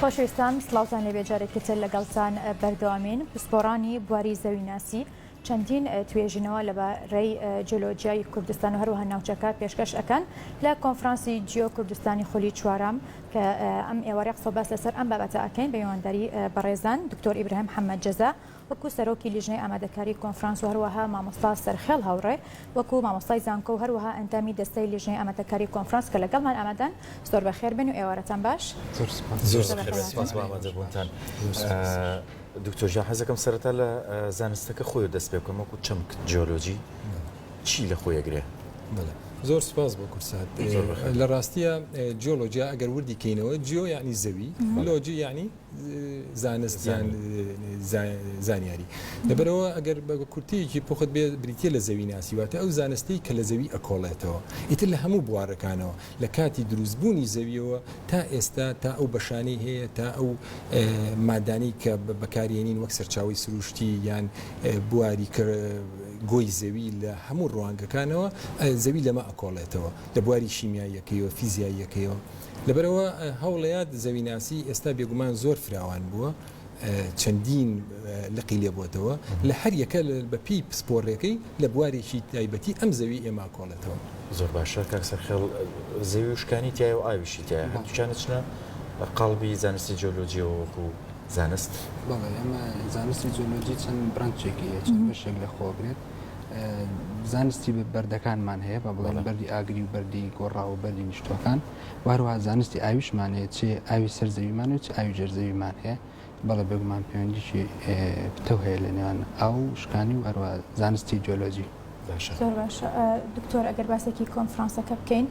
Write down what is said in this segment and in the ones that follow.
خۆشەویستان سڵاوتان لێبێ جارێکی تر لەگەڵتان بەردەوامین پسپۆڕانی بواری زەویناسی چەندین توێژینەوە لە بەڕێی جۆلۆجیای کوردستان و هەروها ناوچەکە پێشکەش ئەەکەن لە کۆنفرانسی جیۆ کوردستانی خولی چوارام کە ئەم ئێوارە قسە باس لەسەر ئەم بابەتە ئەەکەین بە میوانداری بەڕێزان دکتۆر ئیبراهیم حەممەد جەزا وەکو سەرۆکی لیژنەی ئامادەکاری کۆنفرانس و هەروەها مامۆستا سەرخێڵ هاوڕێ وەکو مامۆستای زانکۆ و هەروەها ئەندامی دەستەی لیژنەی ئامادەکاری کۆنفرانس کە لەگەڵمان ئامادەن زۆر بەخێر بێن و ئێوارەتان باش. زۆر سوپاس زۆر زۆر بەخێر بێن سوپاس بۆ ئامادە بوونتان. دکتۆر گیان حەز دەکەم سەرەتا لە زانستەکە خۆی دەست پێ بکەم وەکو چەمک جیۆلۆجی چی لە خۆی ئەگرێ؟ بەڵێ زۆر سوپاس بۆ کورسات لە ڕاستیە جیۆلۆجیا ئەگەر وردی کەینەوە جیۆ یانی زەوی لۆجی یانی. زانست یان زانیاری لەبەرەوە ئەگەر بە کورتەیەکی پوخت بێ بریتە لە زەوی ناسی واتە ئەو زانستی کە لە زەوی ئەکۆڵێتەوە ئیتر لە هەموو بوارەکانەوە لە کاتی دروستبوونی زەویەوە تا ئێستا تا ئەو بەشانەی هەیە تا ئەو مادانی کە بەکارێنین وەک سەرچاوی سروشتی یان بواری کە گۆی زەوی لە هەموو ڕوانگەکانەوە زەوی لەمە ئەکۆڵێتەوە لە بواری شیمیاییەکەیەوە فیزیاییەکەیەوە لەبەرئەوە هەوڵەیاد زەویناسی ئێستا بێگومان زۆر فراوان بووە، چەندین لقی لێ بۆتەوە، لە هەر یەکە بە پێی پسپۆڕیەکەی لە بوارێکی تایبەتی ئەم زەوی ئێمە کۆڵێتەوە. زۆر باشە کاک سەرخێڵ، زەوی وشکانی تیایە و ئاویشی تیایە، هەردووکیان ئەچنە قاڵبی زانستی جیۆلۆجیەوە وەکو زانست؟ بەڵێ، ئێمە زانستی جیۆلۆجی چەند برانچێکی هەیە، چەند بەشێک لە خۆ ئەگرێت، زانستی بەردەکانمان هەیە بە بڵێن بەری ئاگری و بەری گۆڕا و بەری نیشتوەکان وهروە زانستی ئاویشمانەیە چێ ئاوی سەر زەویمان و چ ئاوی ژێر زەویمان هەیە بەڵێ بێگومان پەیوەندیی پتە هەیە لە نێوان ئاو شکانی و هەروە زانستی جۆلۆجی باشە دکتۆر ئەگەر باسێکی کۆنفرانسەکە بکەین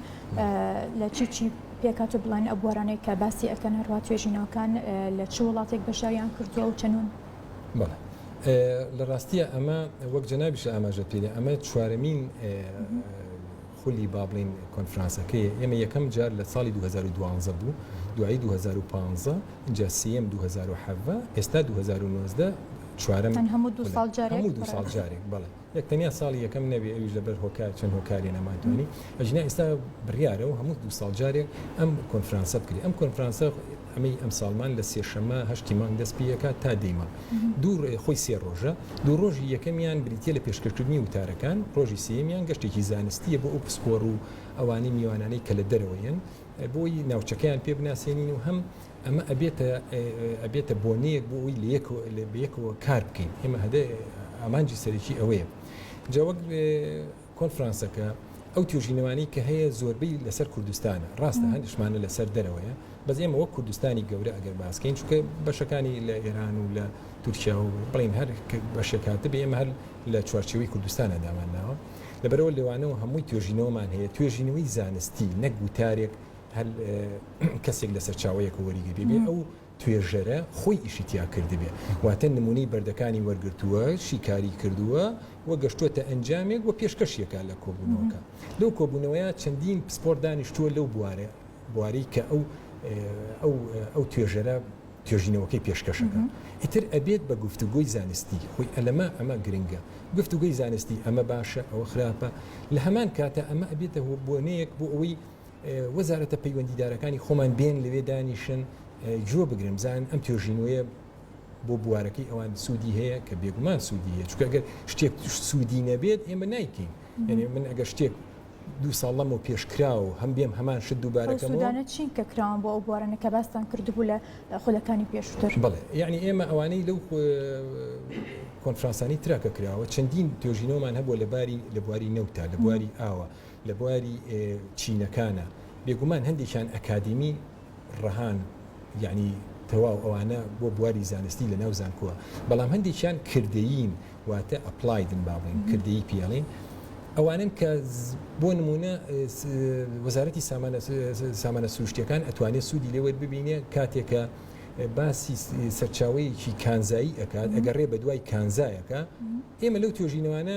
لە چی چی پێکات و بڵێن ئە بوارانەی کە باسی ئەەکەن هەروە توێژینەوەکان لە چ وڵاتێک بەشاریان کردووە و چەنون بەڵێ لە ڕاستیە ئەمە وەک جەنابیشە ئاماژە پێێ ئەمە چوارەمین خولی با بڵین کۆنفرانسەکەی ئێمە یەکەم جار لە ساڵی 2012 بوو دوایی 2015 اینجا سم 2010 ئێستا 2019 چوارم هەموو دو ساڵ جارێک بڵێ نەک تەنیا ساڵی یەکەم نەبێ ئەویش لەبەر هۆکار چەند هۆکارێ نەمانتوانی ئەگینا ئیستا بریارە و هەموو دوو ساڵ جارێک ئەم کۆنفرانسە بکرێ ئەم کۆنفرانسە ئەمەی ئەمساڵمان لە سێ شەمە هەشتی مانگ دەست پی ئەکات تا دەی مانگ دوو خۆی سێ ڕۆژە دوو ڕۆژی یەکەمیان بریتیە لە پێشکەشکردنی وتارەکان ڕۆژی سێیەمیان گەشتێکی زانستیە بۆ ئەو پسپۆڕ و ئەوانەی میوانانەی کە لە دەرەوەیەن بۆی ناوچەکەیان پێ بناسێنین و هەم ئەمە ئەبێتە ئەبێتە بۆنەیەک بۆ ئەوەی لە یەکەوە کار بکەین ئێمە هەدە ئامانجی سەرەکی ئەوەیە جا وەک کۆنفرانسەکە ئەو توێژینەوانی کە هەیە زۆربەی لەسەر کوردستانە ڕاستە هەندشمانە لەسەر دەرەوەیە بەس ئێمە وەک کوردستانی گەورە ئەگەر باسکەین چکە بەشەکانی لە ئێران و لە تورکیا و بڵین هەر بەشێکاتە بێ ئێمە هەر لە چوارچەوەی کوردستانە دامانناوە لەبەرەوە لەوانەوە هەمووی توێژینەوەمان هەیە توێژینەوەی زانستی نەگوتارێک هەر کەسێک لە سەرچاوەیەک و وەریگری بێ ئەو توێژەرە خۆی ئیشی تیا کردبێ واتە نمونەی بەردەکانی وەرگرتووە شیکاری کردووە و گەشتووەتە ئەنجامێک و پێشکەشیەکە لە کۆبوونەوەکە لەو کۆبوونەوەیە چەندین پسپۆر دانیشتووە لەو بوارە بواری کە ئەو ئەو ئەو توێژەرە توێژینەوەکەی پێشکەشەکە ئیتر ئەبێت بە گفتوگۆی زانستی خۆی ئەلەمە ئەمە گرنگە گفتوگوی زانستی ئەمە باشە ئەوە خراپە لە هەمان کاتە ئەمە ئەبێتە هۆ بۆنەیەک بۆ ئەوەی وەزارەتە پەیوەندیدارەکانی خۆمان بێن لەوێ دانیشن گوێ بگرن بزان ئەم توێژینەوەیە بۆ بوارەکەی ئەوان سوودی هەیە کە بێگومان سوودی هەیە چکە گەر شتێک سوودی نەبێت ئێمە نایکەین یعنی من ئەگەر شتێک دو ساڵ لەمە پێشکرا و هەم بێم هەمان شت دووبارەکەمدانە چین کە کراوان بۆ ئەو بوارەنە کە باستان کردبوو لە خولەکانی پێشتر بڵێ یعنی ئێمە ئەوانەی لەو کۆنفرانسانی تراکە کراوە چەندین توێژینەوەمان هەبوو لەباری لە بواری نەوتا لە بواری ئاوە لە بواری چینەکانە بێگومان هەندێکیان ئەکادیمی ڕەهان یەعنی تەواو ئەوانە بۆ بواری زانستی لە ناو زانکۆوە بەڵام هەندێکیان کردەیین واتە ئەپلایدن با بڵێین کردەیی پێڵین ئەوانن کە بۆ نمونە وەزارەتی سامانە سروشتیەکان ئەتوانێت سوودی لێوەر ببینێ کاتێکە باسی سەرچاوەیەکی کانزایی ئەکات ئەگەڕێ بە دوای کانزایەکە ئێمە لەو توێژینەوانە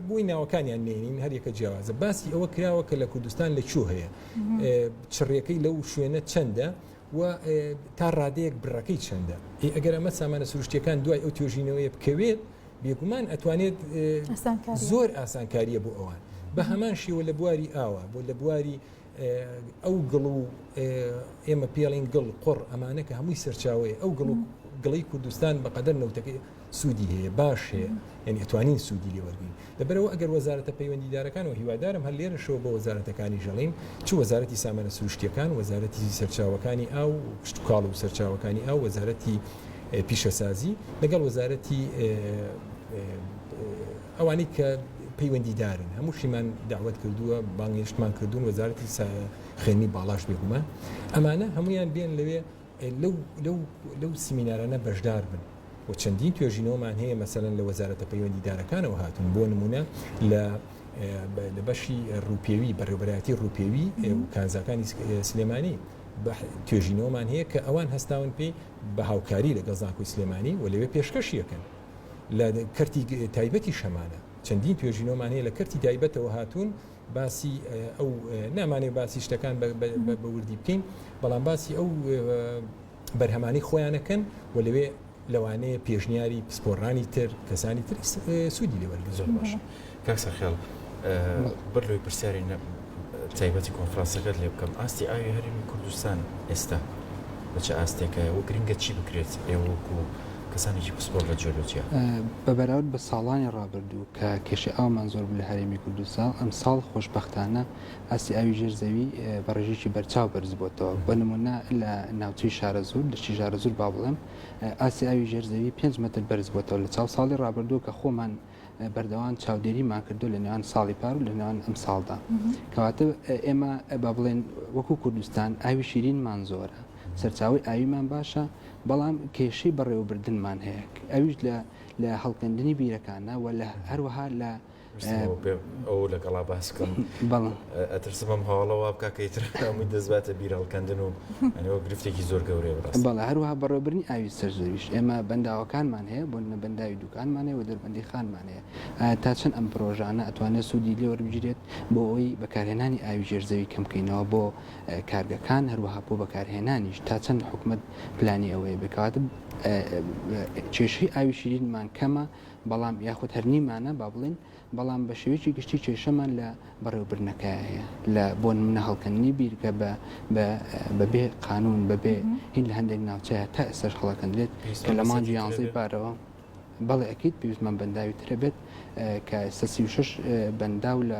بۆی ناوەکانیان نێنین هەر یەکە جیاوازە باسی ئەوە کراوە کە لە کوردستان لە کوو هەیە چڕیەکەی لەو شوێنە چەندە و تا ڕادەیەک بڕەکەی چەندە ئەگەر ئەمە سامانە سروشتەکان دوای ئەو توێژینەوەی بکەوێت بێگومان ئەتوانێت زۆر ئاسانکاریە بۆ ئەوان بە هەمان شێوە لە بواری ئاوە بۆ لە بواری ئەو گڵ و ئێمە پێڵین گڵ قڕ ئەمانە کە هەمووی سەرچاوەیە ئەو گڵ و گڵی کوردستان بەقەدەر نەوتەکەی سوودی هەیە باش هەیە یعنی ئەتوانین سوودی لێ وەرگین لەبەرەوە ئەگەر وەزارەتە پەیوەندیدارەکان و هیوادارم هەر لێرە شەوە بە وەزارەتەکانی ژەڵین چ وەزارەتی سامانە سروشتیەکان وەزارەتی سەرچاوەکانی ئاو کشتتوکاڵ و سەرچاوەکانی ئاو وەزارەتی پیشەسازی لەگەڵ وەزارەتی ئەوانی کە پەیوەندیدارن هەموو شیمان داوت کردووە بانگێشتمان کردوون وەزارەتی خوێنی باڵاش بێگومان ئەمانە هەمویان بێن لەوێ لەو سیمینارانە بەشدار بن و چەندین توێژینەوەمان هەیە مەسەلەن لە وەزارەتە پەیوەندیدارەکانەوە هاتوون بۆ نمونە لە لە بەشی ڕوپێوی بەڕێوبەرایەتی ڕوپێوی و کانزاکانی سلێمانی توێژینەوەمان هەیە کە ئەوان هەستاون پێی بە هاوکاری لەگەڵ زانکۆی سلێمانی و لەوێ پێشکەشیەکەن لە کەرتی تایبەتی شەمانە چەندین توێژینەوەمان هەیە لە کەرتی تایبەتەوە هاتوون باسی ئەو نامانەوێت باسی شتەکان بە وردی بکەین بەڵام باسی ئەو بەرهەمانەی خۆیانەکەن و لەوێ لەوانەیە پێشنیاری پسپۆڕانی تر کەسانی تر سوودی لێوەرگن زۆر باش کاکسە خێڵ بەر لەوەی پرسیاری تایبەتی کۆنفرانسەکەت لێ بکەم ئاستی ئاوی هەرێمی کوردستان ئێستا بەچە ئاستێکایە و گرنگە چی بکرێت ئێوەکو کەسانێکی پسپۆڕ لە جیۆلۆجیا. بە بەراورد بە ساڵانی ڕابردوو کە کێشەی ئاومان زۆر بوو لە هەرێمی کوردستان، ئەمساڵ خۆشبەختانە ئاستی ئاوی ژێر زەوی بە ڕێژەیەکی بەرچاو بەرزبووەتەوە، بۆ نموونە لە ناوچەی شارەزوور، دەشتی ژارەزوور با بڵێم، ئاستی ئاوی ژێر زەوی پێنج مەتر بەرزبووەتەوە لە چاو ساڵی ڕابردوو کە خۆمان بەردەوام چاودێریمان کردووە لە نێوان ساڵی پار و لە نێوان ئەمساڵدا. کەواتە ئێمە با بڵێین وەکوو کوردستان ئاوی شیرینمان زۆرە، سەرچاوەی ئاویمان باشە، بەڵام کێشەی بەڕێوەبردنمان هەیە ئەویش لە لە هەڵکەندنی بیرەکانە و لە هەروەها لە ئەو لەگەڵا باس بکەم ئەترسم ئەم هەواڵە وا بکە کە ئیتر هەمووی دەزباتە بیر هەڵکەندن و ئەنەوە گرفتێکی زۆر گەورەیە بڕاست بەڵێ هەروەها بەڕێوەبرنی ئاوی سەرزەویش ئێمە بەنداوەکانمان هەیە بۆ نە بەنداوی دوکانمان هەیە و دەربەندی خانمان هەیە ئایا تا چەند ئەم پرۆژانە ئەتوانێت سوودی لێ وەربگیرێت بۆ ئەوی بەکارهێنانی ئاوی ژێرزەوی کەم بکەینەوە بۆ کارگەکان هەروەها بۆ بەکارهێنانیش تا چەند حکومەت پلانی ئەوەیە بێ کەواتە کێشەی ئاوی شیرینمان کەمە بەڵام یاخود هەرنیمانە با بڵین بەڵام بە شێوەیەکی گشتی کێشەمان لە بەڕێوبرنەکە هەیە لە بۆ نمونە هەڵکەندنی بیرکە بە بەبێ قانون بەبێ هین لە هەندێک ناوچەیە تا ئێسش هەڵەکەندرێت کە لە مانجی یانزەی بارەوە بەڵێ ئەکییت پێویستمان بەنداوی ترە بێت کە ئێستا سی شش بەنداو لە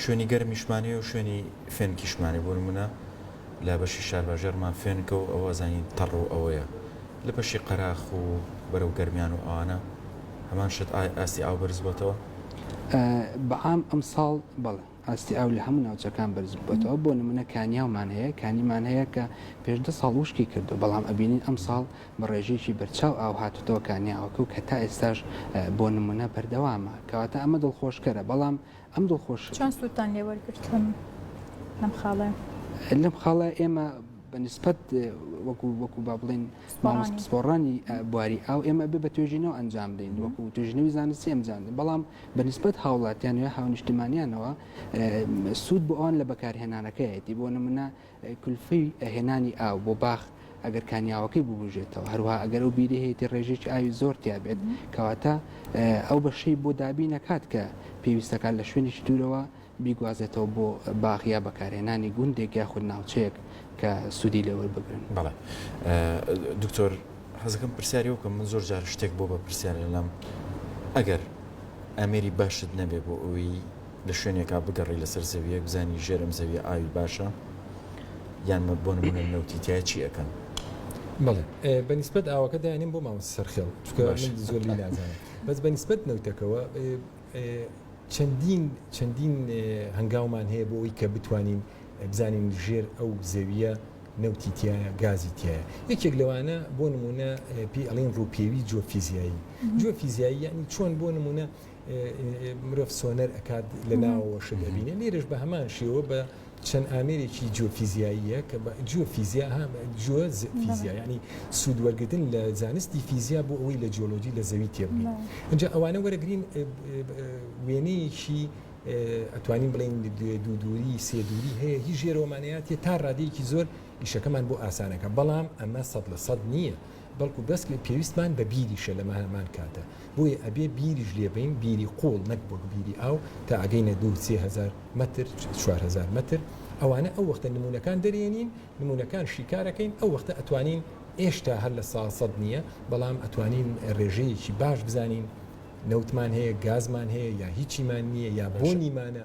شوێنی گەرمیشمانی و شوێنی فێنکیشمانی بۆ نموونە لە بەشی شارباژێڕمان فێنکە و ئەوە زانین تەڕ و ئەوەیە لە بەشی قەراخ و بەرەو گەرمیان و ئەوانە هەمان شت ئایا ئاستی ئاو بەرز بۆتەوە؟ بە عام ئەمساڵ بەڵێ ئاستی ئاو لە هەموو ناوچەکان بەرز بۆتەوە بۆ نموونە کانیاومان هەیە کانیمان هەیە کە پێش دە ساڵ وشکی کردووە بەڵام ئەبینین ئەمساڵ بە ڕێژەیەکی بەرچاو ئاو هاتووتەوە کانیاوەکە و کە تا ئێستاش بۆ نموونە بەردەوامە کەواتە ئەمە دڵخۆشکەرە بەڵام ئەم دڵخۆش چۆن سوودتان لێ وەرگرت لەم لەم خاڵەیە؟ لەم خاڵە ئێمە بە نسبەت وەکو وەکو با بڵێن مامۆس پسپۆڕانی بواری ئاو ئێمە بێ بە توێژینەوە ئەنجام دەین وەکو توێژنەوی زانستی ئەمجان بەڵام بە نسبەت هاوڵاتیان یا هاونیشتمانیانەوە سوود بۆ ئەوان لە بەکارهێنانەکەیەتی بۆ نمونە کلفەی هێنانی ئاو بۆ باخ ئەگەر کانیاوەکەی ببوژێتەوە هەروها ئەگەر ئەو بیری هەیەی ڕێژێکی ئاوی زۆر تیابێت کەواتە ئەو بەشەی بۆ دابی نەکات کە پێویستەکان لە شوێنیش دوورەوە بیگوازێتەوە بۆ باغیا بەکارهێنانی گوندێک یاخود ناوچەیەک کە سوودی لێوەر بگرن بەڵێ دکتۆر حەزەکەم پرسیاری وکەم من زۆر جار شتێک بۆ بە پرسیار لەلام ئەگەر ئەمێری باشت نەبێ بۆ ئەوی لە شوێنێکا بگەڕێی لەسەر زەوییەک بزانی ژێر ئەم زەوییە ئاوی باشە یان بۆ نمونە نەوتی تیا چی ئەکەن؟ بەڵێ بە نیسبەت ئاوەکە دانیم بۆ مامۆستا سەرخێڵ زۆر لی نازانم بەس بە نیسبەت نەوتەکەەوە چەندین چەندین هەنگاومان هەیە بۆ ئەوی کە بتوانین بزانین ژێر ئەو زەویە نەوتی تایە گازی تایە یەکێک لەوانە بۆ نمونە پێ ئەڵین ڕووپێوی جۆفیزیایی جۆفیزیایی یعنی چۆن بۆ نمونە مرۆڤ سۆنەر ئەکات لە ناوەوە شت ئەبینێ لێرش بە هەمان شێوە بە چەند ئامێرێکی جیۆفیزیاییە کە جیۆفیزیا جوە فیزیا ینی سوود وەرگتن لە زانستی فیزیا بۆ ئەوەی لە جیۆلۆجی لە زەوی تێبگەین ئەجا ئەوانە وەرەگرین وێنەیەکی ئەتوانین بڵین دوو دووری سێ دووری هەیە هی ژێرۆمانەتی تا ڕادەیەکی زۆر ئیشەکەمان بۆ ئاسانەکە بەڵام ئەمە سەد لە سەد نییە. بەڵکو بەسکە پێویستمان بە بیریشە لە ماهەمان کاتا بۆیە ئەبێ بیریش لێ بەین بیری قوڵ نەک وەک بیری ئاو تا ئەگەینە دوو سێ هەزار مەتر چوار هەزار مەتر ئەوانە ئەو وەختە نمونەکان دەرێنین نمونەکان شیکارەکەین ئەو وەختە ئەتوانین ئێشتا هەر لە سا سەد نیە بەڵام ئەتوانین رێژەیەکی باش بزانین نەوتمان هەیە گازمان هەیە یا هیچیمان نیە یا بۆنیمانە.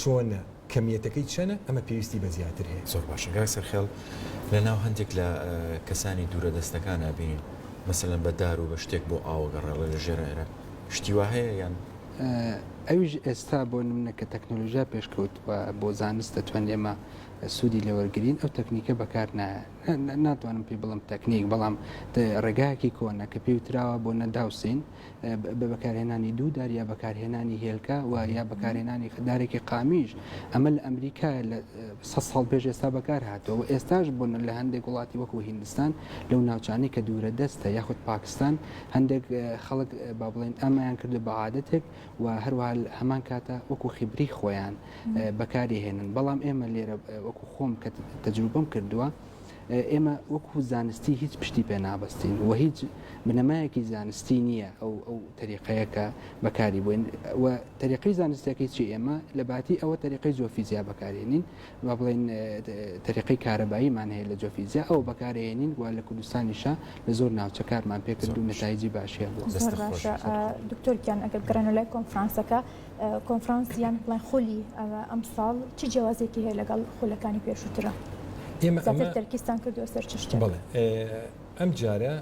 چۆنە؟ کەمیەتەکەی چەنە؟ ئەمە پێویستی بە زیاتر هەیە. زۆر باشە کاک سەرخێڵ، لە ناو هەندێک لە کەسانی دوورە دەستەکان ئەبینین مەسەلەن بە دار و بە شتێک بۆ ئاو ئەگەڕێڵێ لە ژێر عێرە شتی وا هەیە یان؟ ئەویش ئێستا بۆ نمونە کە تەکنەلۆژیا پێش کەوتوە بۆ زانست دەتوانین ئێمە سودی لێ وەرگرین ئەو تەکنیکە بەکار نایە ناتوانم پێی بڵێم تەکنیک بەڵام ڕێگایەکی کۆنە کە پێی وتراوە بۆ نەداوسین بە بەکارهێنانی دوو دار یا بەکارهێنانی هێلکە و یا بەکارهێنانی خدارێکی قامیش ئەمە لە ئەمریکا لە سە ساڵ پێش ئێستا بەکار هاتەوە و ئێستاش بوون لە هەندێک وڵاتی وەکو هندستان لەو ناوچانەی کە دوورە دەستە یاخود پاکستان هەندێک خەڵک با بڵێن ئەمەیان کردو بە عادەتێک و هەروە هەمان کاتە وەکو خیبری خۆیان بەکاری هێنن بەڵام ئێمە لێرە وەکو خۆم کە تەجروبم کردووە ئێمە وەکو زانستی هیچ پشتی پێ نابستین و هیچ بنەمایەکی زانستی نییە ئەو ئەو تەریقەیەکە بەکاری بووین و تەریقی زانستەکەی چی ئێمە لە باتی ئەوە تەریقی جۆفیزیا بەکارێنین با بڵین تەریقی کارەباییمان هەیە لە جۆفیزیا ئەو بەکارێنین و لە کوردستانیشە لە زۆر ناوچە کارمان پێکرد و نتایجی باشیان بۆ دکتۆرگیان ئەگەر گەڕێن لای کۆنفرانسەکە کۆنفرانس یان بڵێن خولی ئەمساڵ چ جیاوازێکی هەیە لەگەڵ خولەکانی پێشووترە؟ ئێمە ئەمە تەرکیزتان کردووە سەر چ شتێک؟ بەڵێ ئەم جارە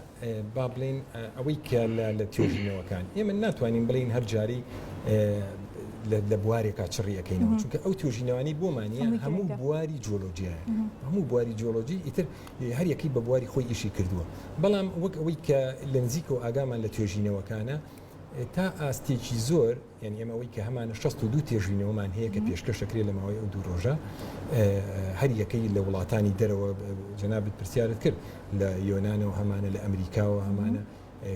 با بڵێین ئەوەی کە لە توێژینەوەکان ئێمە ناتوانین بڵێین هەر جاری لە بوارێکا چڕیەکەینەوە چونکە ئەو توێژینەوانی بۆمانە هەموو بواری جۆلۆجیە هەموو بواری جۆلۆجی ئیتر هەر یەکەی بە بواری خۆی ئیشی کردووە بەڵام وەک ئەوەی کە لە نزیکەوە ئاگامان لە توێژینەوەکانە تا ئاستێکی زۆر یعنی ئێمە ئەوەی کە هەمانە 62 تێژینەوەمان هەیە کە پێشکەش دەکرێت لە ماوەی ئەو دوو ڕۆژە هەر یەکەی لە وڵاتانی دەرەوە جەنابت پرسیارت کرد لە یۆنانەوە هەمانە لە ئەمریکاوە هەمانە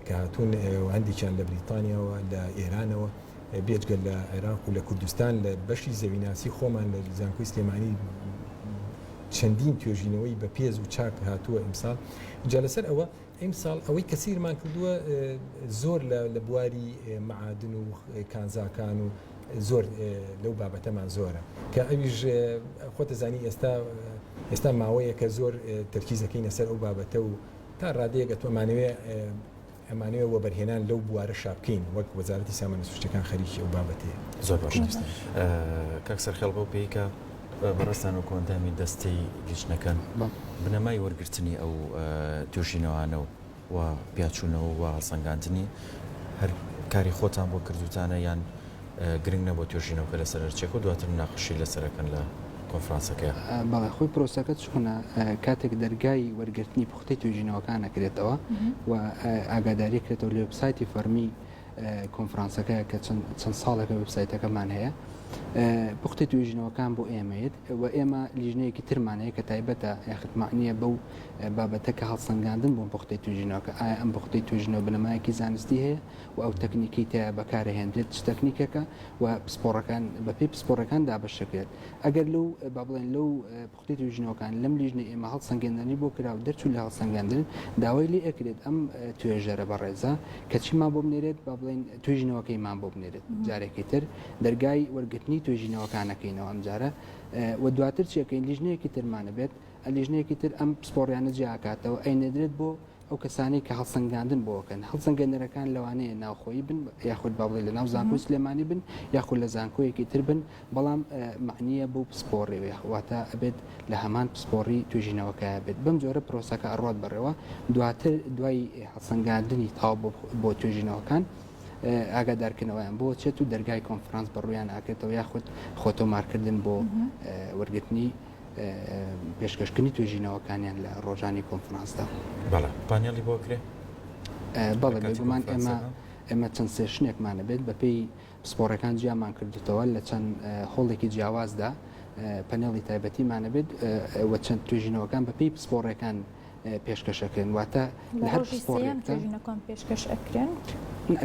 کە هاتوون هەندێکیان لە بریتانیاوە لە ئێرانەوە بێجگە لە عێراق و لە کوردستان لە بەشی زەویناسی خۆمان لە زانکۆی سلێمانی چەندین توێژینەوەی بە پێز و چاک هاتووە ئیمساڵ جا لەسەر ئەوە ئیمساڵ ئەوەی کەسیرمان کردووە زۆر لە بواری مەعادن و کانزاکان و زۆر لەو بابەتەمان زۆرە کە ئەویش خۆتەزانی ئێستا ئێستا ماوەیە کە زۆر تەرکیزەکەینە سەر ئەو بابەتە و تا ڕادەیەگە تومانەوێ ئەمانەوێ وەبەرهێنان لەو بوارە شابکەین وەک وەزارەتی سامانە سوشتەکان خەریکی ئەو بابەتەیە زۆر باشە کاک سەرخێڵ بەو پێیکە بەڕێزتان وەکو ئەندامی دەستەی لیژنەکان بنەمای وەرگرتنی ئەو توێژینەوانە و و پیاچوونەوە و هەڵسەنگاندنی هەر کاری خۆتان بۆ کردوتانە یان گرنگ نەبوو توێژینەوەکە لەسەر هەرچێک و دواتر مناقەشی لەسەرەکەن لە کۆنفرانسەکەیان بەڵێ خۆی پرۆسەکە چۆنە کاتێک دەرگای وەرگرتنی پوختی توێژینەوەکان نەکرێتەوە و ئاگاداری کرێتەوە لە وبسایتی فەرمی کۆنفرانسەکە کە چەند ساڵێکە وێبسایتەکەمان هەیە پوختە توێژینەوەکان بۆ ئێمەیت و ئێمە لیژنەیەکی ترمان هەیە کە تایبەتە یاخت معنیە بەو بابەتە کە هەڵسەنگاندن بۆ پوختە توێژینەوەکە ئایا ئەم پوختەی توێژینەوە بنەمایەکی زانستی هەیە و ئەو تەکنیکی تیا بەکارهێنرێت چ تەکنیکەکە و پسپۆڕەکان بەپی پسپۆڕەکان دابەشەکرێت ئەگەر لەو با بڵێن لەو کتێب و ژنۆکان لەم لیژنەی ئێمە هەڵسەنگێندنی بۆ کرا و دەرچوون لە هەڵسەنگاندن، داوای لێ ئەکرێت ئەم توێژەرە بەڕێزە کە چیمان بۆ بنێرێت با بڵێین توێژینەوەکەیمان بۆ بنێرێت جارێکی تر دەرگای وەرگرتنی توێژینەوەکان ئەکەینەوە ئەمجارە و دواتر چی ئەکەین لیژنەیەکی ترمان ئەبێت، ئە لیژنەیەکی تر ئەم پسپۆڕیانە جیا ئەکاتەوە ئەینێدرێت بۆ ئەو کەسانەی کە هەڵسەنگاندن بۆ ئەکەن، هەڵسەنگێنەرەکان لەوانەیە ناوخۆیی بن یاخود با بڵێین لە ناو زانکۆی سلێمانی بن یاخود لە زانکۆیەکی تر بن، بەڵام مەعنییە بەو پسپۆڕی بێ، واتە ئەبێت لە هەمان پسپۆڕی توێژینەوەکەیا بێت. بەم جۆرە پرۆسەکە ئەڕوات بەڕێوە، دواتر دوای هەڵسەنگاندنی تەواو بۆ بۆ توێژینەوەکان، ئاگادارکردنەوەیان بۆ چێت و دەرگای کۆنفرانس بەڕوویان ئاکرێتەوە یاخود خۆتۆمارکردن بۆ وەرگرتنی پێشکەشکردنی توێژینەوەکانیان لە ڕۆژانی کۆنفرانسدا بەڵێ پانێڵی بۆ کرێ بەڵێ بێگومان ئێمە ئێمە چەند سێشنێکمانە بێت بەپێی پسپۆڕەکان جیامان کردوتەوە لە چەند هۆڵێکی جیاوازدا پەنێڵی تایبەتیمانە بێت و چەند توێژینەوەکان بەپێی پسپۆڕەکان پێشکەشەکەن واتە لە هەر پسپۆڕەکان پێشکەش ئەکرێن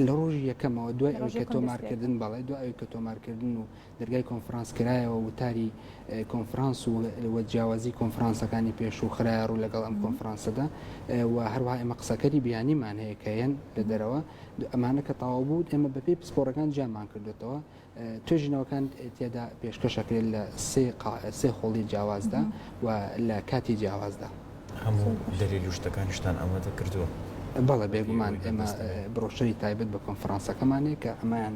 لە ڕۆژی یەکەمەوە دوای ئەوکە تۆمارکردن بەڵێ دوای ئەوکە تۆمارکردن و دەرگای کۆنفرانس کرایەوە، وتاری کۆنفرانس و و جیاوازی کۆنفرانسەکانی پێشوو خرایە ڕوو لەگەڵ ئەم کۆنفرانسەدا و هەروەها ئێمە قسەکەری بیانیمان هەیە کە یەن لە دەرەوە ئەمانە کە تەواو بوو ئێمە بەپێی پسپۆڕەکان جیامان کردوێتەوە توێژینەوەکان تێدا پێشکەشەکرێت لە سێ قا سێ خۆڵی جیاوازدا و لە کاتی جیاوازدا. هەموو دەلیل و شتەکانیشتان ئامادە کردووە؟ بەڵێ بێگومان ئێمە بڕۆشەری تایبەت بە کۆنفرانسەکەمان هەیە کە ئەمەیان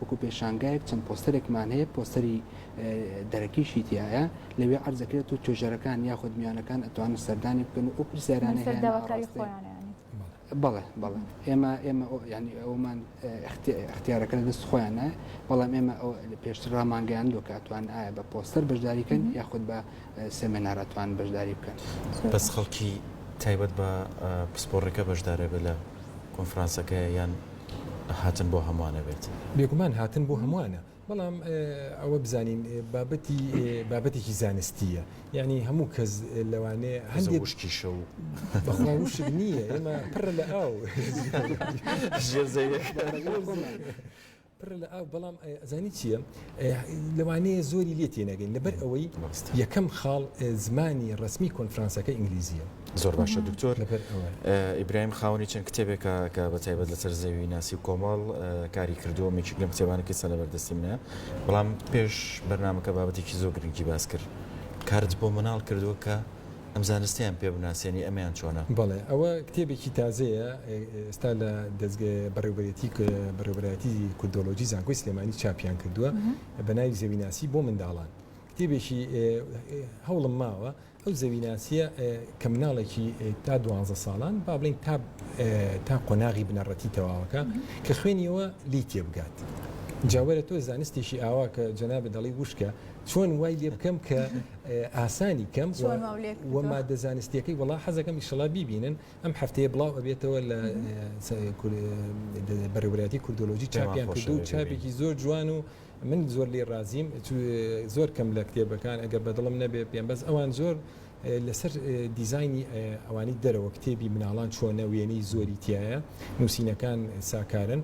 وەکو پێشانگایەک چەند پۆستەرێکمان هەیە پۆستەری دەرەکیشی تایە لەوێ عرزەکرێت و توێژەرەکان یاخود میانەکان ئەتوانن سەردانی بکەن و ئەو پرسیارانە بەڵێ بەڵێ ئێمە ئێمە ینی ئەومان اختیارەکە لە دەست خۆیانە بەڵام ئێمە پێشتر ڕامانگەیان لۆکاتوان ئایا بە پۆستەر بەشداریکەن یاخود بە سێمێنارە توان بەشداری بکەن. بەس خەڵکی تایبەت بە پسپۆڕێکە بەشدارە بێت لە کۆنفرانسەکە یان هاتن بۆ هەموانە بێت؟ بێگومان هاتن بۆ هەموانە بەڵام ئەوە بزانین بابەتی بابەتێکی زانستیە یانی هەموو کەس لەوانەیە هەندێک وشکیشە و بەخوا وشک نییە ئێمە پڕە لە ئاو ژێر زەویەکە. پڕە لە ئاو بەڵام ئەزانی چییە لەوانەیە زۆری لێ تێنەگەین لەبەر ئەوەی یەکەم خاڵ زمانی ڕسمی کۆنفرانسەکە ئینگلیزیە زۆر باشە دکتۆر لەبەر ئیبراهیم خاونی چەند کتێبێکە کە بە تایبەت لەسەر زەوی ناسی و کۆمەڵ کاری کردووە مێکیک لەم کتێبانەکە سە لەبەردەستی منە بەڵام پێش بەرنمەکە بابەتێکی زۆر گرنگی باس کرد کارت بۆ مناڵ کردووە کە ئەم زانستەیان پێ بناسێنی ئەمەیان چۆنە؟ بەڵێ ئەوە کتێبێکی تازەیە ئێستا لە دەزگە بەڕێوبەرێتی بەڕێوبەرایەتی کوردۆلۆجی زانکۆی سلێمانی چاپیان کردووە بە ناوی زەویناسی بۆ منداڵان کتێبێکی هەوڵم ماوە ئەو زەویناسیە کە مناڵێکی تا دوانزە ساڵان با بڵین تا تا قۆناغی بنەڕەتی تەواوەکە کە خوێنیەوە لی تێبگات جاوەرە تۆ زانستێکی ئاوا کە جەنابە دەڵی وشکە چۆن وای لێ بکەم کە ئاسانی کەم وە مادە زانستیەکەی وەڵا حەزەکەم ئیشەڵا بیبینن ئەم هەفتەیە بڵاو ئەبێتەوە لە بەڕێوەبەرایەتی کوردۆلۆژی چاپیان کردو چاپێکی زۆر جوان و من زۆر لێ ڕازیم زۆر کەم لە کتێبەکان ئەگەر بەدڵم نەبێ پێم بەس ئەوان زۆر لەسەر دیزانی ئەوانی دەرەوە کتێبی مناڵان چۆنە وێنەی زۆری تایە نووسینەکان ساکارن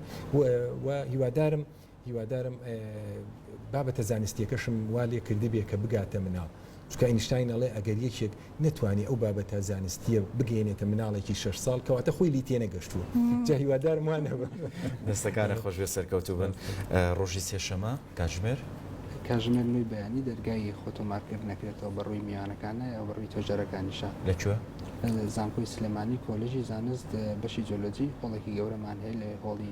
و هیوادارم هیوادارم بابەتە زانستیەکەشم وا لێ کردبێ کە بگاتە مناڵ، چونکە ئەینشتاین ئەڵێ ئەگەر یەکێک نەتوانێ ئەو بابەتە زانستیە بگەیەنێتە مناڵێکی شەش ساڵ کەواتە خۆی لێی تێنەگەشتووە، جا هیوادارم وا نەبم. دەستەکانت خۆش بێت سەرکەوتوو بن. ڕۆژی سێ شەمە کاتژمێر؟ کاتژمێر نۆی بەیانی دەرگای خۆ تۆمار کرد نەکرێتەوە بە ڕووی میوانەکان نایە و بە ڕووی تۆجەرەکانیشە. لە کوێ؟ لە زانکۆی سلێمانی کۆلێژی زانست بەشی جۆلۆجی هۆڵێکی گەورەمان هەیە لەوێ هۆڵی